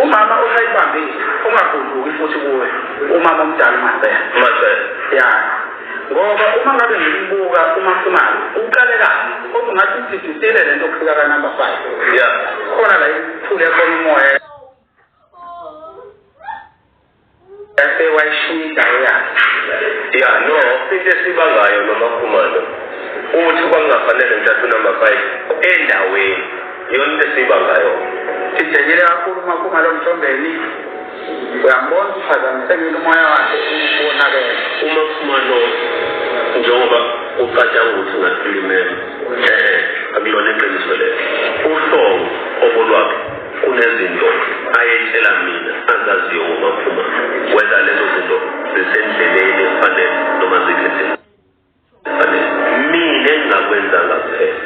Umama usayibambile ungagudluki futhi kuwe umama omdala uMacele. Macele. Ya. Ngoba uma ngabe ngimbuka uMakhumalo uqale kabi kodwa ngathi sididile lento kufika ka number 5. Ya. Khona la iphule khona umoya. Yase wayishiya indawo yakhe. Ya no, into esibangayo nomakhumalo ukuthi kwangafanele ngithathe unumber 5 endaweni. Yona into esibangayo. Sijejele kakhulu umakhumalo mthombeni. Uyambona uphazamiseke umoya wakhe ubonakele. Umakhumalo njengoba ucatshanga ukuthi ngasilumela. Eh, akulona iqiniso lelo. Uhlongo obolwakhe Kunezinto ayetshela mina azaziyo ngomaphuma whether lezo zinto zisendleleni efanele noma zikhethe efanele. Mina engingakwenzanga kuphela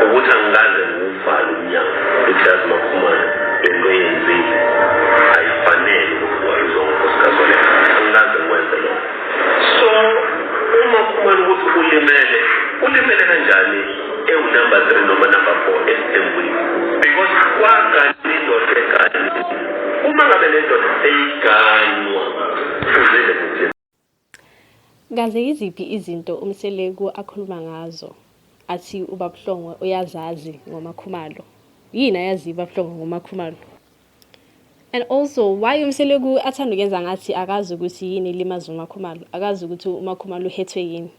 ukuthi angikaze ngiwuvale umnyango ukuthi yazi maphumana le nto eyenzile ayifanele ukuthi wayizwa ngonkosikazi wale angikaze ngikwenze lokho so umaphumana ukuthi ulimele ulimele kanjani Kaze yiziphi izinto uMseleku akhuluma ngazo athi uBabuhlongo uyazazi ngoMakhumalo? Yini ayazi uBabuhlongo ngoMakhumalo? And also why uMseleku athanda ukwenza ngathi akazi ukuthi yini ilimaza uMakhumalo, akazi ukuthi uMakhumalo uhethwe yini.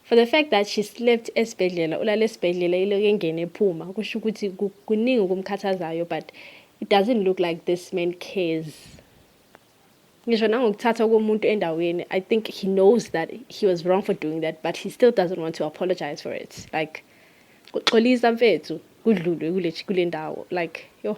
For the fact that she slept esibhedlela, ulale esibhedlela iloke engene ephuma, kusho ukuthi kuningi okumkhathazayo but it doesn't look like this man cares. Ngisho nangokuthatha komuntu endaweni, I think he knows that he was wrong for doing that but he still doesn't want to apologize for it. Like kuxolisa mfethu kudlulwe kule kule ndawo like yo